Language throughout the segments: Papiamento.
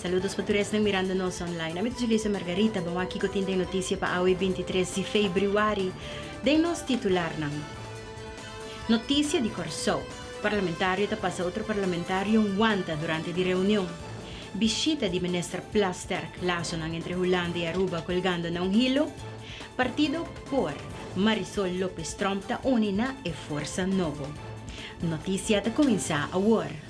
Saludos pa tur esnan mirando nos online. Ami ta Julissa Margarita. Bon aki cu tin den noticia pa awe binti tres di februari den nos titularnan. Noticia di Corsou. Parlamentario ta pasa otro parlamentario wanta durante di reunion. Bishita di Minister Plasterk. Lasonan entre Hulanda y Aruba colgando na un hilo. Partido por Marisol Lopez Tromp ta uni na e forsa nobo. Noticia ta cuminsa awor.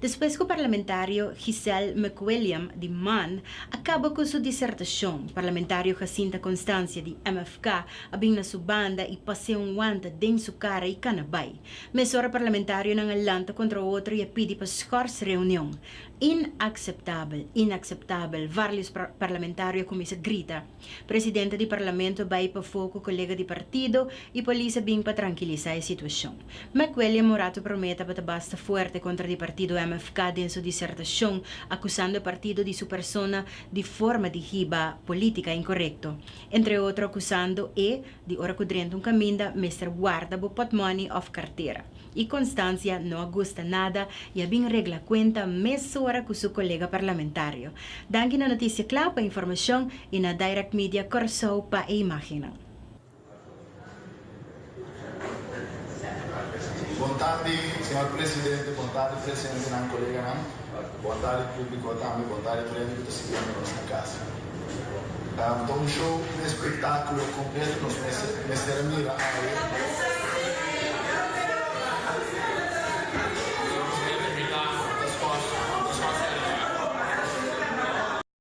Despues ku parlamentario Giselle McWilliam di man a kaba ku su disertashon, parlamentario Jacinta Constancia di MFK a bin na su banda i pas'é un wanta den su kara i kana bai. Mesora parlamentarionan a lanta kontra otro i a pidi pa skòrs reunion. Inakseptabel! Inakseptabel! Varlius parlamentario a kuminsá grita. Presidente di Parlamento bai pafó ku kolega di partido i polis a bin pa trankilisá e situashon. McWelly a mora tu promé tabata basta fuerte kontra di partido MFK den su disertashon akusando e partido di su persona di forma di hiba polítika inkorekto, entre otro akusando e di ora ku drenta un kaminda mester warda bo potmoni òf kartera. y Constancia no a gusta nada y a bin regla cuenta mesora cu su colega parlamentario. Danki na Noticia Cla pa informacion y na Direct Media Corsou pa e imagennan. Bon tardi, señor presidente. Bon tardi, presentenan, koleganan. Bontadi públiko a tambe bontadi premio ku ta sirbiendo nos na kasa. Ta un show, un espektákulo kompleto nos mester a mira awe.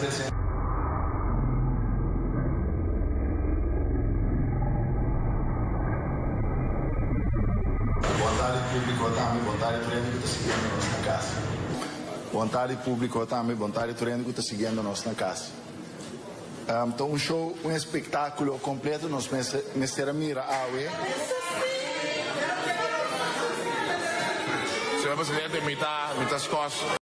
Jesús. Bontadi públiko tambe bontadi tur hende ku ta siguiendo nos na kasa. Bontadi públiko tambe bontadi tur hende ku ta siguiendo nos na kasa. Ta un show, un espektákulo kompleto nos mester a mira awe. Señor presidente, mi ta mi ta skos.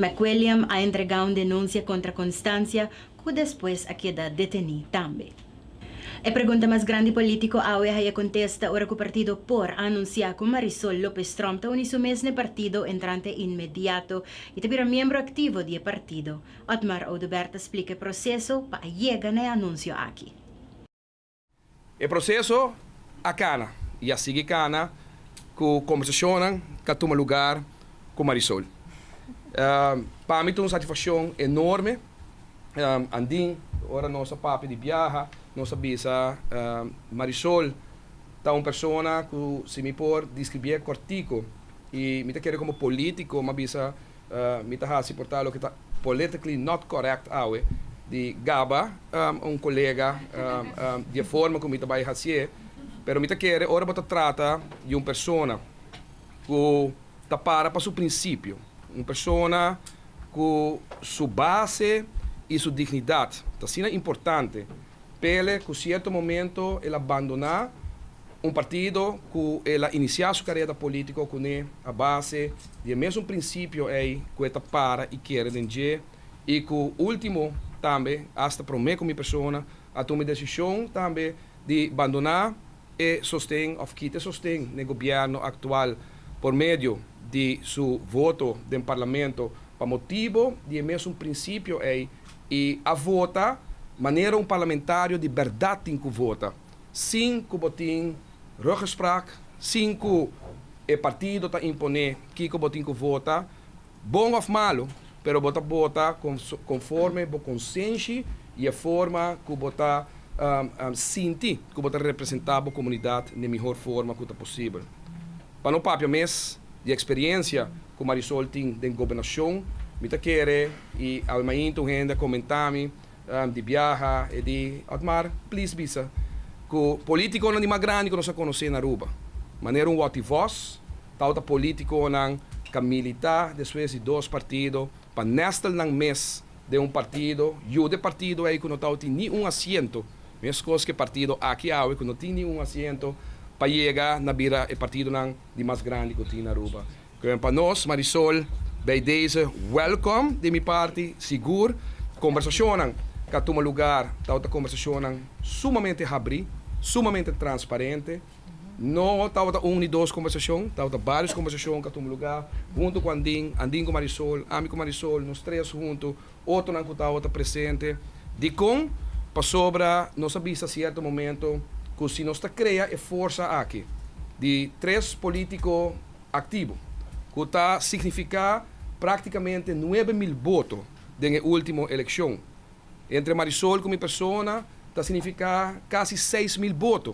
McWilliam a entregá un denunsia kontra Constancia ku despues a keda detení tambe. E pregunta mas grandi polítiko awe haya kontesta ora ku partido por a anunsiá ku Marisol López-Tromp ta uni su mesne partido entrante inmediato i ta bira miembro aktivo di e partido. Otmar Oduber ta splika e proseso pa a yega na e anunsio aki. E proseso a kana i a sigui kana ku kombersashonnan ta tuma lugar ku Marisol. Pa mi ta un satisfakshon enorme andin ora nos a papia di biaha nos a bisa Marisol ta un persona ku si mi por diskribié kòrtiku i mi ta kere komo polítiko mi a bisa Mi ta hasi por ta loke ta politically not correct awe di gaba un colega di e forma cu mi ta bay haci'e, pero mi ta kere ora bo ta trata di un persona cu ta para pa su principio, un persona cu su base y su dignidad ta asina importante Pele cu cierto momento el a bandona un partido cu el a inicia su carera politico cune a base di e mesun principio ey cu e ta para y kere den dje y cu ultimo tambe hasta prome cu mi persona a tuma e decision tambe di bandona e sosten of kita e sosten n'e gobierno actual por medio di su voto den parlamento pa motibo di e mesun principio ey I a vota manera un parlamentario di bèrdat tin ku vota, sin ku bo tin ruggespraak, sin ku e partido ta imponé kiko bo tin ku vota, bon òf malu, pero bo ta bota konforme bo konsenshi i e forma ku bo ta sinti ku bo ta representá bo komunidat n'e mihor forma ku ta posibel. Pa no papia mes di eksperiencia ku Marisol tin den gobernacion, mi ta kere y awe mainta un hende a comentami di biaha e di Otmar, please bisa ku politiconan di mas grandi ku nos a conoce na Aruba, manera un woti vos, tawata politiconan ka milita despues di dos partido pa nestelnan mes den un partido, yu de partido ei ku no tawba tin ni un asiento, meskos ku e partido aki awe ku no tin ni un asiento, pa yega na bira e partidonan di mas grandi ku tin Aruba. Kòrda pa nos, Marisol, bij deze wèlkòm di mi parti, sigur, kombersashonnan ka tuma lugar, tawata kombersashonnan sumamente habrí, sumamente transparente. No tabata un ni dos kombersacion, tabata barios kombersacion ku a tuma lugá huntu ku Andin, Andin ku Marisol, ami ku Marisol, nos tres huntu, otonan ku tabata presente. Dikon? Pasobra nos a bisa sierto momento ku si nos ta krea e forsa aki di tres polítiko aktivo, ku ta signifiká práktikamente nuebe mil boto den e último elekshon, entre Marisol ku mi persona ta signifiká kasi seis mil boto.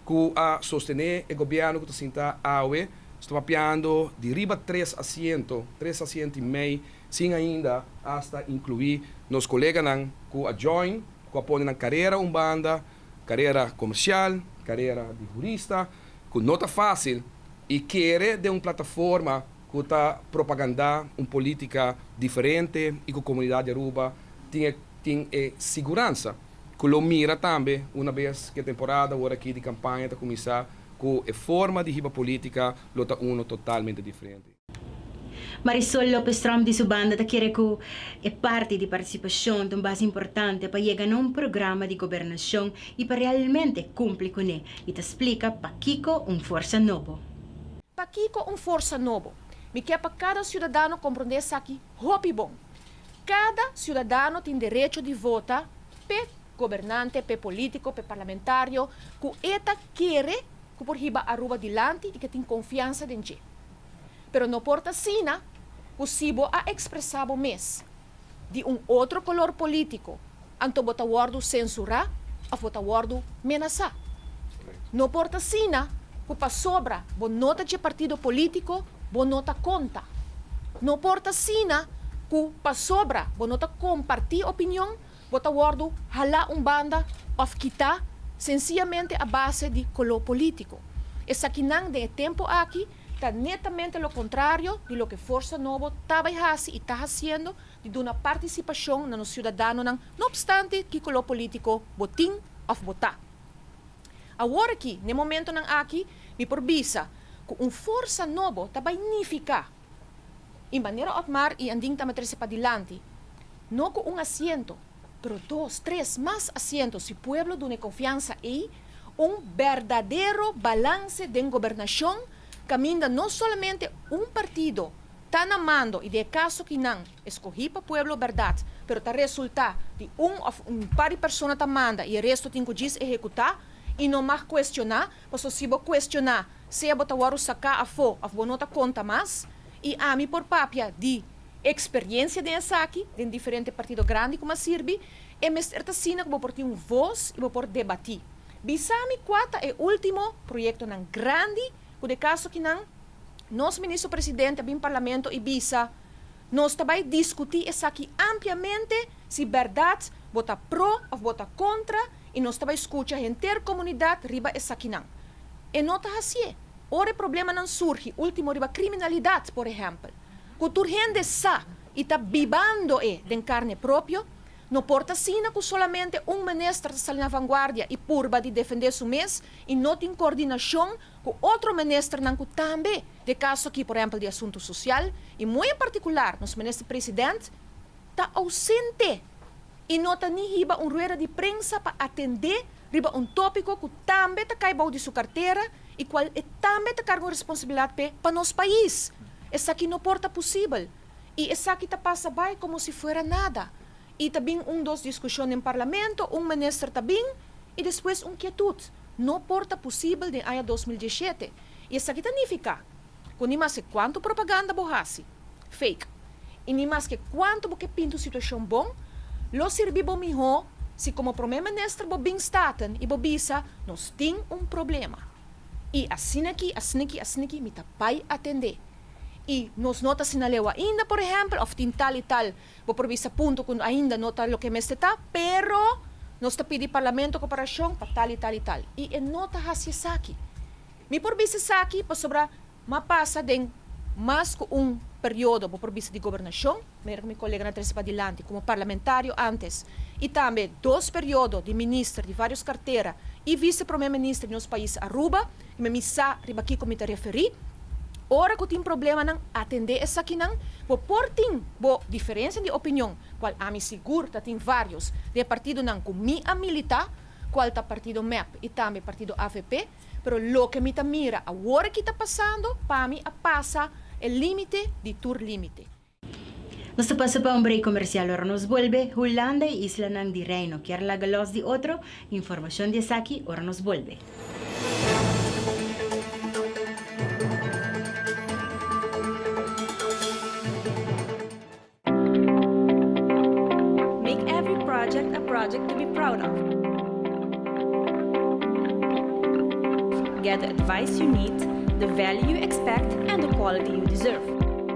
cu a sostene e gobierno cu ta sinta awe, sta papiando di riba tres asiento, tres asiento y mei, sin ainda hasta inclui nos coleganan cu a join, cu a pone nan carera un banda, carera comercial, carera di jurista, cu no ta facil, y kere den un plataforma cu ta propaganda un politica diferente y cu comunidad di Aruba tin e tin e siguransa. Ku lo mira tambe una bes ku e temporada wor aki di kampaña ta kuminsá ku e forma di hiba polítika lo ta uno totalmente diferente. Marisol Lopez-Tromp di su banda ta kere ku e parti di partisipashon ta un base importante pa yega na un programa di gobernashon i pa realmente kumpli kuné i ta splika pakiko un forsa nobo. Pakiko un forsa nobo? Mi ke pa kada siudadano komprondé esaki hopi bon. Cada ciudadano tin derecho di vota p'e gobernante, p'e politico, p'e parlamentario cu e ta kere cu por hiba Aruba dilanti y cu e tin confiansa den dje. Pero no por ta asina cu si bo a expresa bo mes di un otro color politico, Anto bo ta wòrdu sensurá òf bo ta wòrdu menasá. No por ta asina ku pasobra bo no ta dje partido polítiko bo no ta konta. No por ta asina ku pasobra bo no ta kompartí opinion bo ta wòrdu halá un banda òf kitá sensiyamente a base di koló polítiko. Esakinan den e tempu aki ta netamente lo kontrario di loke Forsa Nobo ta bai hasi i ta hasiendo di duna participacion na nos ciudadanonan no obstante ki color politico bo tin of bo ta. Awor aki, n'e momentonan aki, mi por bisa cu un forsa nobo ta bay nifica y manera Otmar y Andin tambe trece padilanti, no cu un asiento, pero dos, tres, mas asiento si pueblo duna e confiansa ey, un berdadero balance den gobernacion caminda no solamente un partido, Ta na mando i di e kaso ki nan eskohí pa pueblo bèrdat, pero ta resultá di un òf un par di persona ta manda i e resto tin ku djis ehekutá i no mag kuestioná, pasobra si bo kuestioná, sea bo ta wòru saká afó òf bo no ta konta mas, i ami por papia di eksperiencia den esaki, den diferente partido grandi ku m'ha sirbi, e mester ta asina ku bo por tin un vos i bo por debatí. Bisami kua ta e último proyektonan grandi ku di e kaso ki nan Nos Minister Presidente a bin Parlamento y bisa, Nos ta bay discuti esaki ampliamente si berdad bo ta pro of bo ta contra y nos ta bay scucha henter comunidad riba esakinan. E no ta hacié. Ora e problemanan surgi, ultimo riba criminalidad, por ehempel, cu tur hende sa y ta bibando e den carne propio, no por ta asina cu solamente un Minister ta sali na vanguardia y purba di defende su mes y no tin coordinacion ku otro ministernan ku tambe den kaso aki por ehempel di asuntu sosial i muy en partikular nos minister president ta ausente i no ta ni hiba un rueda di prensa pa atendé riba un tópiko ku tambe ta kai bou di su kartera i kual e tambe ta karga un responsabilat p'e pa nos pais esaki no por ta pusibel i esaki ta pasa bai komo si fuera nada i ta bin un dos diskushon den parlamento un minister ta bin i despues un kietut. No por ta posibel den aña dos mil diesshete. I esaki ta nifiká ku ni maske kuantu propaganda bo hasi, fake, i ni maske kuantu bo ke pintu situashon bon, lo sirbi bo mihó si komo Promé Minister bo bin Staten i bo bisa, Nos tin un problema. I asin'aki, asin'aki, asin'aki mi ta bai atendé. I nos no ta sinal'eu ainda, por ehèmpel, òf tin tal i tal. Bo por bisa punto cu ainda no ta loke mester ta, pero nos ta pidi Parlamento coperacion pa tal y tal y tal, y e no ta haci esaki. Mi por bisa esaki pasobra m'a pasa den mas cu un periodo, bo por bisa di Gobernacion, manera cu mi colega na trece padilanti, como Parlamentario antes, y tambe dos periodo di Minister di varios cartera y Vice Prome Minister di nos pais Aruba, Dime mi sa riba kiko mi ta referí. Ora ku tin problemanan, atendé esakinan. Bo por tin bo diferensia di opinion, kual ami sigur ta tin vários den e partidonan ku mi a militá, kual ta partido mep i tambe partido avp, pero loke mi ta mira awor aki ta pasando, pa mi a pasa e límite di tur límite. Nos ta pasa pa un break comercial, ora nos bolbe, Hulanda y islanan di Reino kier laga los di otro? Informacion di esaki ora nos bolbe. Make every project a project to be proud of. Get the advice you need, the value you expect, and the quality you deserve.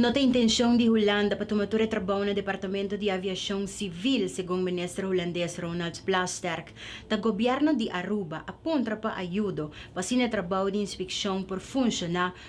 No ta intencion di Hulanda pa tuma tur e trabao na departamento di aviacion civil, segun minister Hulandes Ronald Plasterk. Ta gobierno di Aruba a puntra pa ayudo pa asina e trabao di inspeccion por funciona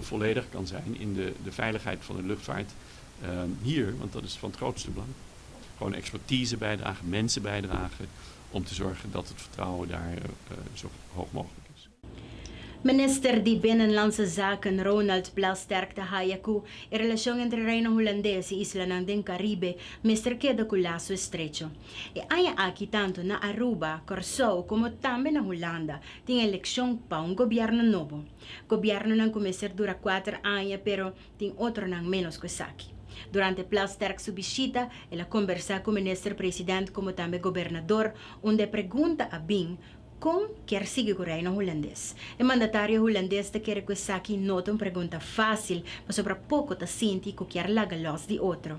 volledig kan zijn in de veiligheid van de luchtvaart hier, want dat is van het grootste belang. Gewoon expertise bijdragen, mensen bijdragen om te zorgen dat het vertrouwen daar zo hoog mogelijk is. Minister di Binnenlandse Zaken Ronald Plasterk ta haya cu e relacion entre Reino Hulandes y islanan den Caribe mester keda cu lazo estrecho. E aña aki tanto na Aruba, Corsou como tambe na Hulanda tin eleccion pa un gobierno nobo. Gobiernonan cu mester dura cuater aña pero tin otronan menos cu esaki. Durante Plasterk su bishita el a combersa cu Minister President como tambe Gobernador unda e pregunta a bin con kier sigui cu Reino Hulandes. E mandatario Hulandes ta kere cu esaki no ta un pregunta facil pasobra poco ta sinti cu kier laga los di otro.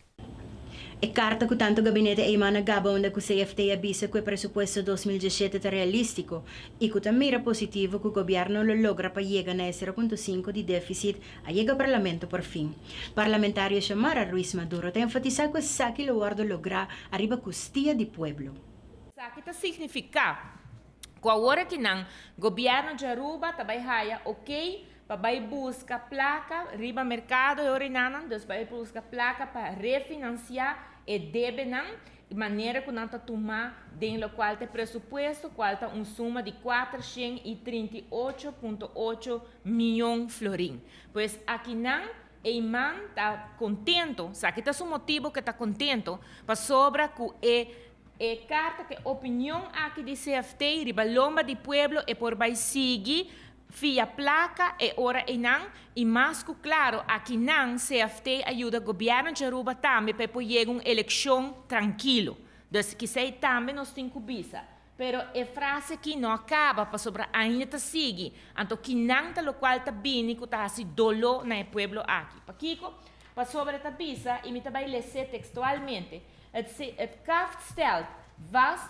E karta ku tantu gabinete Eman a gaba unda ku CFT a bisa ku e presupuesto dos mil diesiete ta realístiko i ku ta mira positivo ku gobièrnu lo logra pa yega na e sero punto sinku di défisit a yega Parlamento porfin. Parlamentario Xiomara Ruiz Maduro ta enfatisá ku esaki lo wòrdu lográ ariba kustia di pueblo. Esaki ta signifiká ku awor aki nan, gobièrnu di Aruba ta bai haya okey Pa bai buska plaka riba merkado e orinanan, dus bai buska plaka pa refinansiá e debenan di manera ku nan ta tumá den lokual ta e presupuesto, kual ta un suma di kuater shen i trinta i ocho punto ocho mion florin. Pues akinan ei man ta kontento, sa ki ta su motibu ku e ta kontento, pasobra ku e e karta ku e opinion aki di CFT riba lomba di pueblo e por bai sigui Via placa e ora eynan y mas cu claro akinan CFT a yuda Gobierno dje Aruba tambe pa e por yega un eleccion trankilo. Dus kisa e tambe nos tin cu bisa. Pero e frase aki no a caba pasobra ainda ta sigui. Anto kinan ta locual ta bini cu ta haci dolo na e pueblo aki? Pakico? Pasobra e ta bisa y mi ta bay lese textualmente, Het kaft stelt vast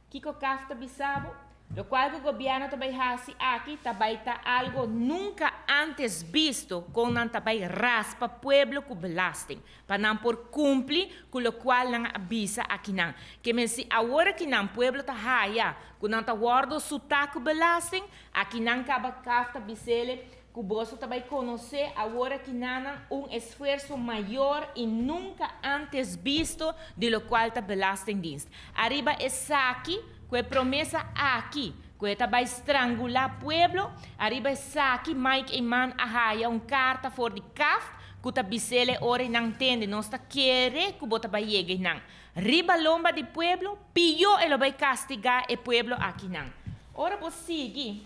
Kiko caf ta bisabo? Lo cual cu gobierno ta bay haci aki ta bay ta algo nunca antes bisto con nan ta bay raspa pueblo cu belasting pa nan por cumpli cu lo cual nan a bisa akinan. Ke mester awor aki nan pueblo ta haya cu nan ta wordo suta cu belasting? Akinan caba caf ta bisele Ku boso ta bai konosé awor aki nanan un esfuerso mayor i nunka antes bisto di lo kual ta Belastingdienst. Ariba esaki, ku e promesa aki, ku e ta bai strangulá pueblo, ariba esaki Mike Eman a haya un karta for di kaft ku ta bisel e ora i nan ntende nos ta kere ku bo ta bai yega i nan riba lomba di pueblo, piyó e lo bai kastigá e pueblo aki nan. Ora bo sigui.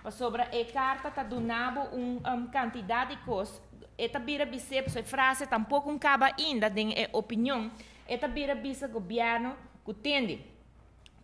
Pasobra e karta ta duna bo un kantidat di kos, e ta bira bis'é, pasobra e frase ta un poko un kaba ainda den e opinion, e ta bira bisa gobièrnu ku tende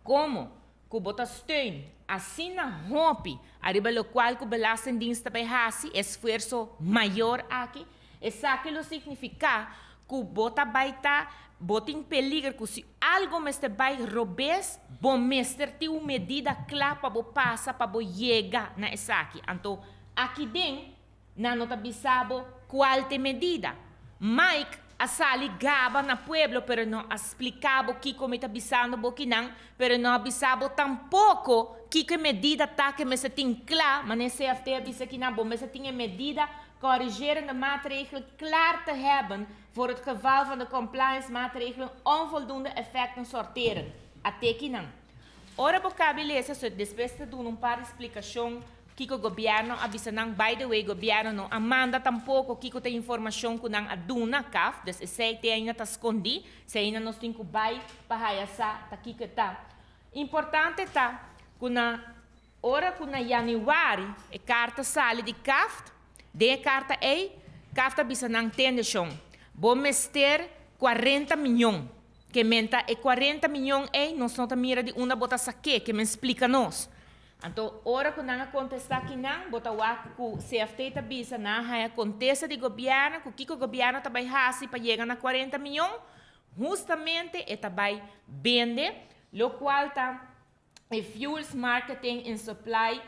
komo ku bo ta steun asina hopi ariba lokual ku belastingdiens ta bai hasi e esfuerso mayor aki. Esaki lo signifiká ku bo ta bai ta bo tin peliger ku si algu mester bai robes bo mester tin un medida kla pa bo pasa pa bo yega na esaki. Anto aki den nan no ta bisa bo kual t'e medida. Mike a sali gaba na pueblo pero e no a splika bo kiko mi ta bisando bo ki nan pero e no a bisa bo tampoko kiko e medida ta ku e mester tin kla mané CFT a bisa ki nan bo mester tin e medida Corrigerende maatregelen klaar te hebben voor het geval van de compliance-maatregelen onvoldoende effecten sorteren, a teki nan. Ora bo kabi lesa su e despues te duna un par di splicacion kiko gobierno a bisa nan, by the way gobierno no a manda tampoco kiko ta informacion cu nan a duna caf, dus esey te ainda ta scondi, sey ainda nos tin cu bay pa haya sa ta kiko e ta. Importante ta cu nan. Ora ku na yanüari e karta sali di CAFT, den e karta ei, CAFT a bisa nan tendeshon, Bo mester kuarenta miñon. Ke men ta e kuarenta miñon ei? Nos no ta mira di unda bo ta sa ke, ke men splika nos. Anto, ora ku nan a kontestá kinan, bo ta wak ku CFT ta bisa nan haña kontesta di gobièrnu ku kiko gobièrnu ta bai hasi pa yega na kuarenta miñon. Hustamente e ta bai bende, lokual ta. e Fuels Marketing and Supply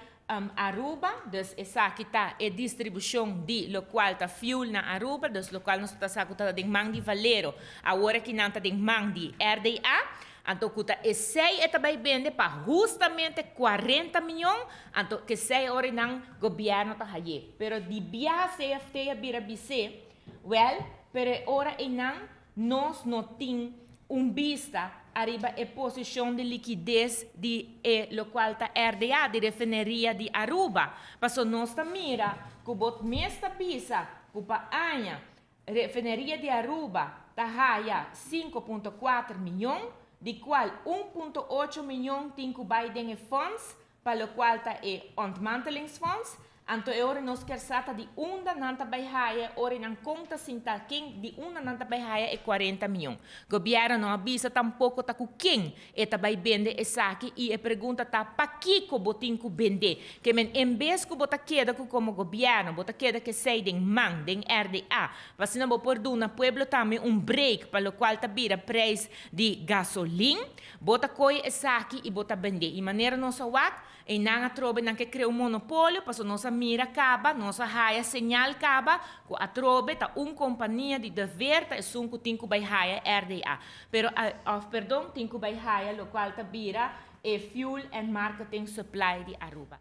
Aruba, dus esaki ta e distribushon di lokual ta fuel na Aruba, dus lokual nos ta sa ku ta den man di Valero, awor aki nan ta den man di RDA, anto ku ta esei e ta bai bende pa hustamente cuarenta mion, anto ku esei ora nan gobièrnu ta haye. Pero di biaha CFT a bira bis'é, Wèl, pero e ora einan Nos no tin un bista ariba e posishon di likides di e lokual ta RDA di Refineria di Aruba, paso nos ta mira ku bo mes ta bisa ku pa aña Refineria di Aruba ta haya sinku punto kuater mion, di kual un punto ocho mion tin ku bai den e fonds Pa lokual ta e Ontmantelingsfonds, anto e ora nos kier sa ta di unda nan ta bai haya e ora nan kon ta sinta ken di unda nan ta bai haya e cuarenta mion. Gobièrnu no a bisa tampoko ta ku ken e ta bai bende esaki i e pregunta ta pakiko bo tin ku bend'é ke men en bes ku bo ta keda ku komo gobièrnu bo ta keda kesei den man den RDA pa asina bo por duna pueblo tambe un break pa lokual ta bira preis di gasolin Bo ta koe esaki i bo ta bend'é. I manera nos a wak, einan a trobe nan ke krea un monopolio, paso nos a mira kaba, nos a haya señal kaba, ku atrobe ta un kompania di dever ta esun ku tin ku bai haya RDA, pero a, òf perdon, tin ku bai haya lokual ta bira e Fuel and Marketing Supply di Aruba.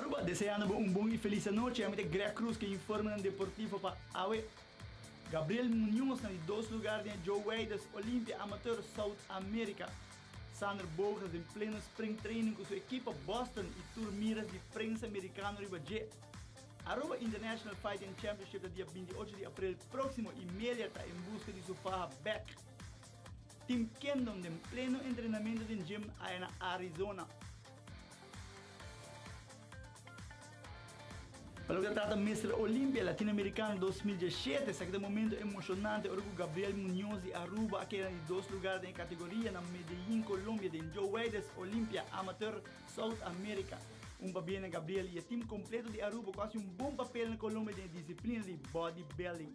Aruba deseando bo un bon y feliz anochi. Ami ta Greg Cruz cu informenan deportivo pa awe. Gabriel Muñoz na di dos lugar den e Joe Weyders Olympia Amateur South America. Xander Bogaerts den pleno spring training cu su ekipo Boston y tur miras di prensa Americano riba dje. Aruba International Fighting Championship ta dia binti ocho di april proximo y Melia ta en busca di su faha bek. Tim Kendon den pleno entrenamento den gym aya na Arizona. Pa loke ta trata Mister Olimpia Latinoamerikano dos mil diesshete, esaki ta momentu emoshonante ora ku Gabriel Muñoz di Aruba a keda di dos lugar den e kategoria na Medellín, Colombia den Joe Weides Olimpia Amateur South America. Un pabiena Gabriel i e tim kompleto di Aruba ku hasi un bon papel na Colombia den e disiplina di Bodybuilding.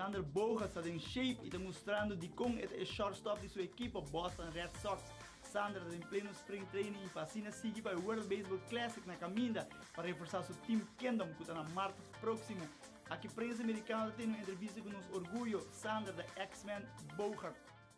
Sander Bogaerts ta den shape y ta mustrando dicon e ta e shortstop di su ekipo Boston Red Sox. Sander ta den pleno spring training y pa asina sigui pa e World Baseball Classic na caminda pa reforsa su team Kingdom cu ta na mart proximo. Aki prensa Mericano ta tene un entrevista cu nos orguyo Sander the X-Man Bogaerts.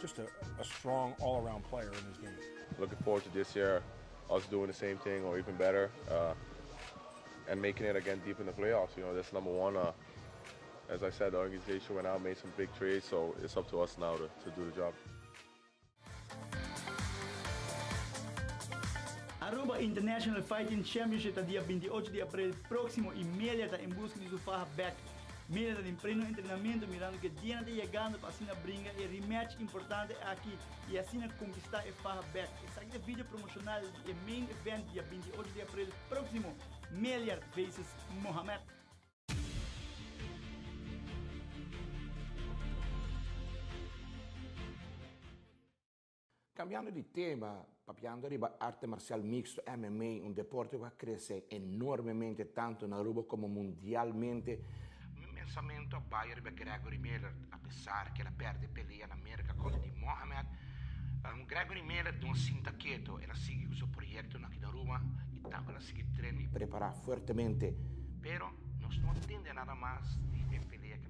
Just a a strong all around player in his game. Looking forward to this year us doing the same thing or even better uh and making it again deep in the playoffs you know that's number one uh as I said the organization went out made some big trades so it's up to us now to to do the job. Aruba International Fighting Championship ta dia binti ocho di aprel proximo y Melia ta en busca di su faha back Mira nan in preno entrenamentu mirando ke dianan ta yegando pa asina bringa e rematch importante aki i asina konkistá e faha bek. Esaki ta video promoshonal di e main event dia binti i ocho di aprel próksimo, Meljard vs Mohamed. Kambiando di tema, papiando riba arte marsial mixto, MMA, un deporte ku a krese enormemente tantu na Aruba komo mundialmente, mi pensamentu a bai riba Gregory Miller, apesar ku el a pèrdè pelea na Merka kontra di Muhammad. Gregory Miller no a sinta keto, el a sigui ku su proyektonan aki na Aruba i tambe el a sigui trena i prepará fuertemente. Pero nos no tende nada mas di e pelea.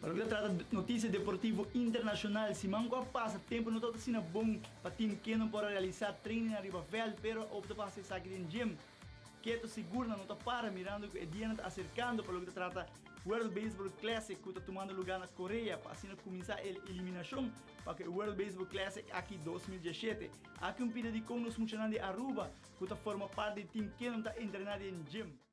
Pa loke ta trata notisia deportivo internashonal, siman ku a pasa tempu no tabata asina bon pa tim Kenon por a realisá treinin ariba vèlt, pero hopi ta pasa esaki den gim. Keto Sigurnan no ta para mirando ku e dianan ta aserkando pa loke ta trata World Baseball Classic ku ta tumando lugá na Korea pa asina kuminsá el eliminashon pa ku e World Baseball Classic aki dos mil diesshete. Aki un pida di kon nos muchanan di Aruba ku ta forma parti di tim Kenon ta entrená den gim.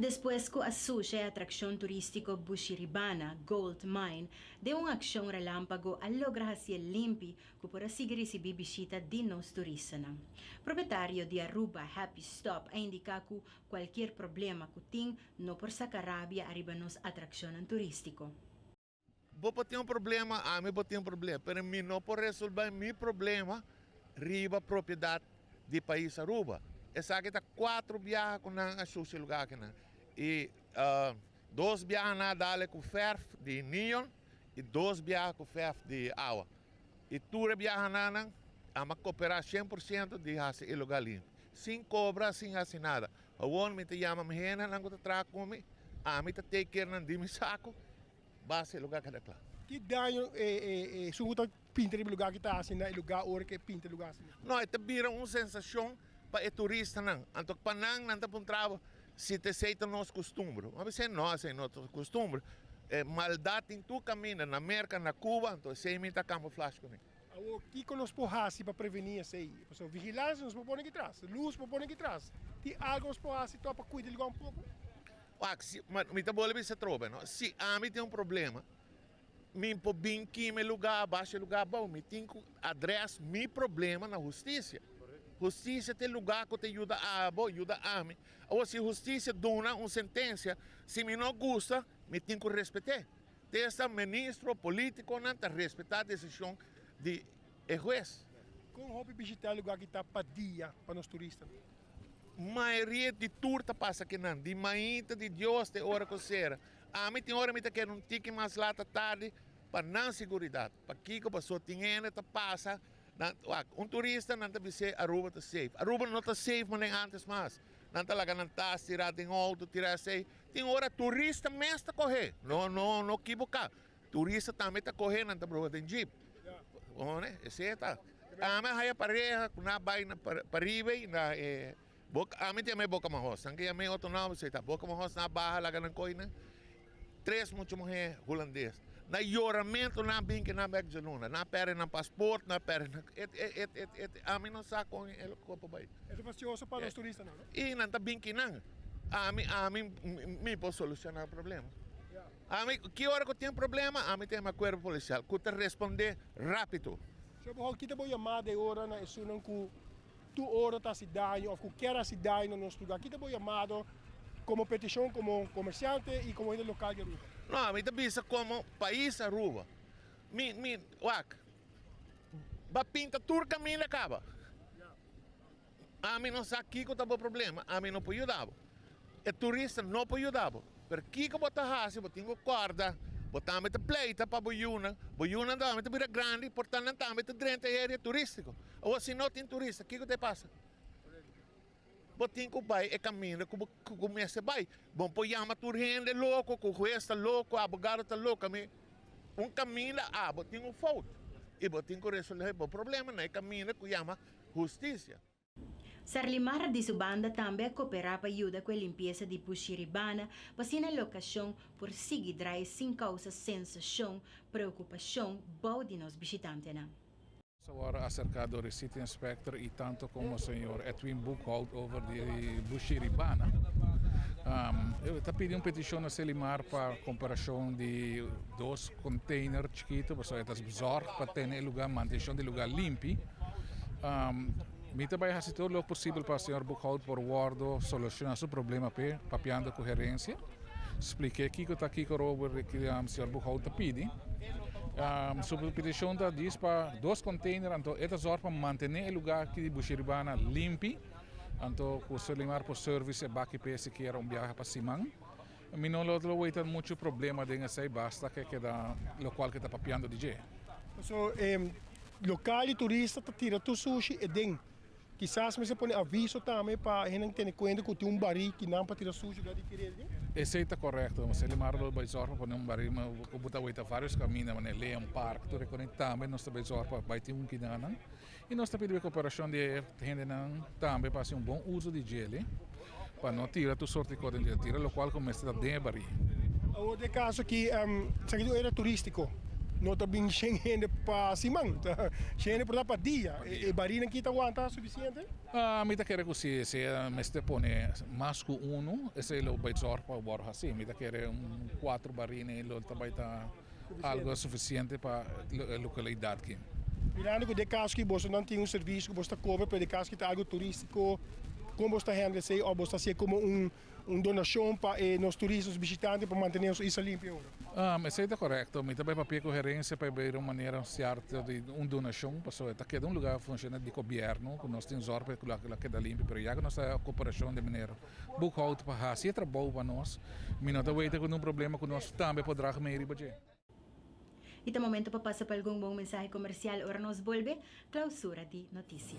Despues cu a sucia e atraccion turistico Bushiribana Gold Mine den un accion relampago a logra haci'e limpi cu por a sigui ricibi bishita di nos turistanan. Propietario di Aruba Happy Stop a indica cu Cualkier problema cu tin no por saca rabia ariba nos atraccionnan turistico. Bo por tin un problema, ami por tin un problema, pero mi no por resolba mi problema riba propiedad di pais Aruba. Esaki ta cuatro biaha cu nan a shushi lugar akinan y dos biaha nan a dale cu verf di neon y dos biaha cu verf di awa. I tur e biahananan a m'a koperá shen por siento di hasi e lugá limpi, sin kobra, sin hasi nada. Awor mi ta yama mi hendenan ku ta traha ku mi, ami ta take kere nan di mi saku basa e lugá keda kla. Ki daño e sungu ta pinta riba e lugá ku ta hasi na e lugá ora ku e pinta e lugá asina? No, e ta bira un sensashon pa e turistanan, anto pa nan, nan ta puntraba si ta esei ta nos kustumber. Bo a bisa no, esei no ta kustumber. E maldat tin tur kaminda, na Merka, na Kuba, anto esei mi ta kamuflash ku mi. Awor, kiko nos por hasi pa prevení esei? Pasobra vigilansia nos por pone aki tras, lus por pone aki tras. Tin algu nos por hasi to pa kuida di luga un poko? Wak, si, mi ta bole bisa trobe, no. Si ami tin un problema. Mi por bin kima e luga a basha e luga abou. Mi tin ku adrès mi problema na hustisia. Hustisia ta e luga ku ta yuda abo, yuda ami. Awor si hustisia duna un sentensia, si mi no gusta, mi tin ku respet'é. Ta esta ministro o politikonan ta respetá desishon di e hues. Kon hopi bishitá e luga ki ta padia pa nos turistanan? Mayoria di tur ta pasa kinan, di mainta di Dios te ora ku sera. Ami tin ora mi ta keda un tiki mas lat ta tardi pa nan siguridat. Pakiko? Paso tin hende ta pasa nan wak un turista nan ta bis'é Aruba ta safe. Aruba no ta safe manera antes mas. Nan ta laga nan tas tira den outo, tira esei. Tin ora turista mes ta kohe, no no no kibuka. Turista tambe ta kohe nan ta broha den jeep. Esei ta. Ami a haya pareha ku nan a bai na pariba ei na e. Boka, ami ta yama e boka mohos nan ke yama e otro nomber se ta boka mohos nan a baha laga nan koi nan tres mucha muhé hulandes na yoramento nan bin ke nan bek djaluna nan a perde nan pasport nan a perde nan e ami no sa kon e lo kua por bai e ta fastioso pa nos turista nan no i nan ta bin kinan ami ami mi por soluciona problema ami ki ora ku tin problema ami ta yama kuerpo polisial ku ta responde rapido. Sho bo hopi kita bo yamada e ora na esun nan ku Tur ora ta hasi daño of ku kier hasi daño na nos lugá, kita bo yamado komo petishon komo komersiante i komo hende lokal di Aruba? No, mi ta bisa komo pais Aruba. Mi, mi, wak, ba pinta tur kaminda kaba. Ami no sa kiko ta bo problema, ami no por yuda bo. E turista no por yuda bo. Pero kiko bo ta hasi, bo tin ku kòrda, bo tambe ta pleita pa bo yunan. Bo yunan tambe ta bira grandi, por tanto nan tambe ta drenta e aria turístiko. Awo si no tin turista, kiko ta e pasa? Bo tin ku bai e kaminda ku bo mester bai. Bo no por yama tur hende loko, ku hues ta loko, abogado ta loko. Mi un kaminda abo tin un fout i bo tin ku resolve bo problema na e kaminda ku yama hustisia. Sarlimar di su banda tambe a koperá pa yuda ku e limpiesa di Bushiribana pa asina e lokashon por sigui drai sin kousa sensashon, preokupashon bou di nos bishitantenan. Nos a wòrdu aserká dor e City Inspector i tantu komo señor Edwin Boekhout over di Bushiribana. E ta pidi un petishon na Selimar pa komperashon di dos konteiner chikitu, pasobra e ta zòrg pa tene e lugá, manteshon di lugá limpi. Mi ta bai hasi tur lo posibel pa señor Boekhoudt por wordo soluciona su problema p'e, papiando cu herencia. Spliqu'e kico ta kico robo señor Boekhoudt ta pidi. Su peticion ta djis pa dos container, anto e ta zorg pa mantene e lugar aki di Busheribana limpi, anto cu Solimar por service e baki p'e sikiera un biaha pa siman. Mi no lo ta weten mucho problema den esey basta ke keda locual ke ta papiando di dje. So e local di turista ta tira tur sushi eden. Kisas mester pone aviso tambe pa hende tene cuenta cu tin un bari ki nan pa tira sushi lugar diferente den. Esey ta corecto, mas e limara lo bay zorg pa pone un bari ma bo ta weten varios caminda, mane Leon Park tur e cona tambe nos ta bay zorg pa bay tin un kinanan. Y nos ta pidi e cooperacion di e hendenan tambe pa haci un bon uzo di djeli, pa no tira tur soort di cos den djeli, tira locual cu mester ta den e baria. Awor den e caso aki, esaki ta un area turistico, no ta bin shen hende pa siman, shen hende por ta pa dia. E barinan aki ta wanta suficiente? Mi ta kere cu si, si e mester pone mas cu uno, esei lo bay zorg pa wor haci. Mi ta kere un cuatro barina y lo ta bay ta. algo sufisiente pa e lokalidad ki. Mirando cu de cas cu boso nan tin un servicio cu boso ta cobra pa e cas cu ta algo turistico, con boso ta handle esey of boso ta haci'e como un donacion pa e nos turista, nos bishitante pa mantene nos isla limpio? Esey ta corecto, mi ta bay papia cu Gerencia pa e bay den un manera cierto di un donacion, pasobra e ta keda un lugar funciona di gobierno cu nos tin zorg pa e lo a keda limpio, pero ya cu nos ta ocupacion den manera Boekhoud pa hasi e trabou pa nos. Mi no ta wete ku un problema ku nos tambe por draga mei riba dje. I ta momento pa pasa pa algun bon mensahe komersial ora nos bolbe Klausura di Notisia.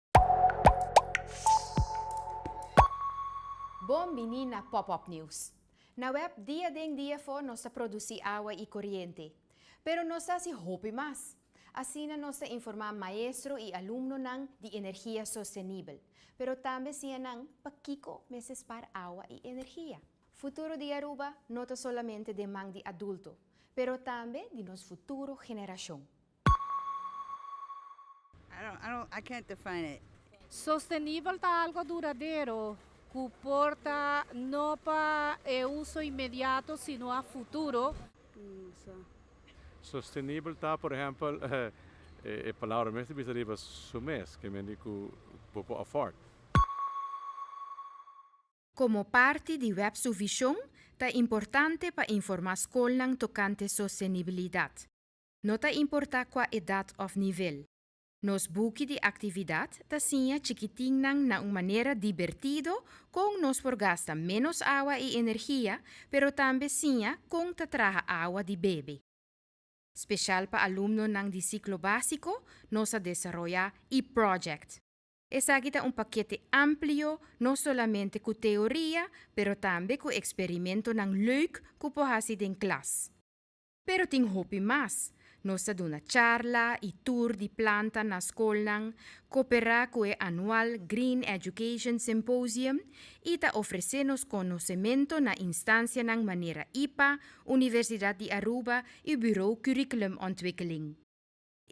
Bon bini na Pop Up News. Na web dia den dia afó nos ta produsí awa i koriente. Pero nos ta hasi hopi mas. Asina nos ta informá maestro i alumnonan di energia sostenibel, pero tambe siña nan pakiko mester spar awa i energia. Futuro di Aruba no ta solamente den man di adulto, pero tambe di nos futuro generashon. Sostenibel ta algo duradero ku por ta no pa e uso inmediato sino a futuro. Sostenibel ta, por ehèmpel, e palabra mes ta bisa riba su mes, ke men di ku bo por afford. Komo parti di web su vishon, ta importante pa informá skolnan tokante sostenibilidat. no ta importá kua edat òf nivel. Nos buki di aktividat ta siña chikitinnan na un manera dibertido kon nos por gasta ménos awa i energia, pero tambe siña kon ta traha awa di bebe. Speshal pa alumnonan di siklo básiko, nos a desaroyá e-project. Esaki ta un pakete amplio no solamente ku teoria, pero tambe ku eksperimentonan lèuk ku por hasi den klas. Pero tin hopi mas. Nos ta duna charla i tur di planta na skolnan, koperá ku e anual Green Education Symposium i ta ofresé nos konosementu na instansianan manera ipa, Universidat di Aruba i Burou Curriculumontwikkeling.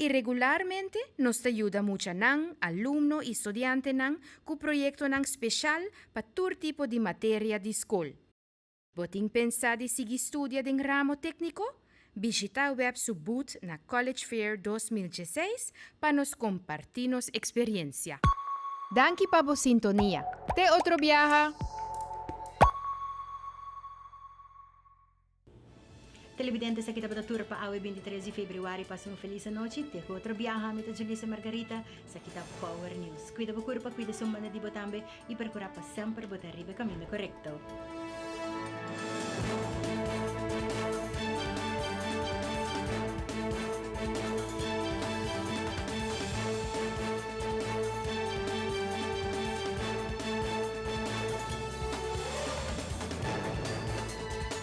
I regularmente nos ta yuda muchanan, alumno i studiantenan ku proyektonan speshal pa tur tipo di materia di skol. Bo tin pensa di sigui studia den ramo tékniko? Bishita web su boot na College Fair dos mil dieseis pa nos kompartí nos eksperiensia. Danki pa bo sintonia. Te otro biaha! Televidente esaki tabata tur pa awe binti tres di febriuari pasa un felis anochi te ku otro biaha mi ta Julissa Margarita esaki ta Power News kuida bo kurpa kuida esun banda di bo tambe i perkura pa semper bo ta riba e kaminda korekto.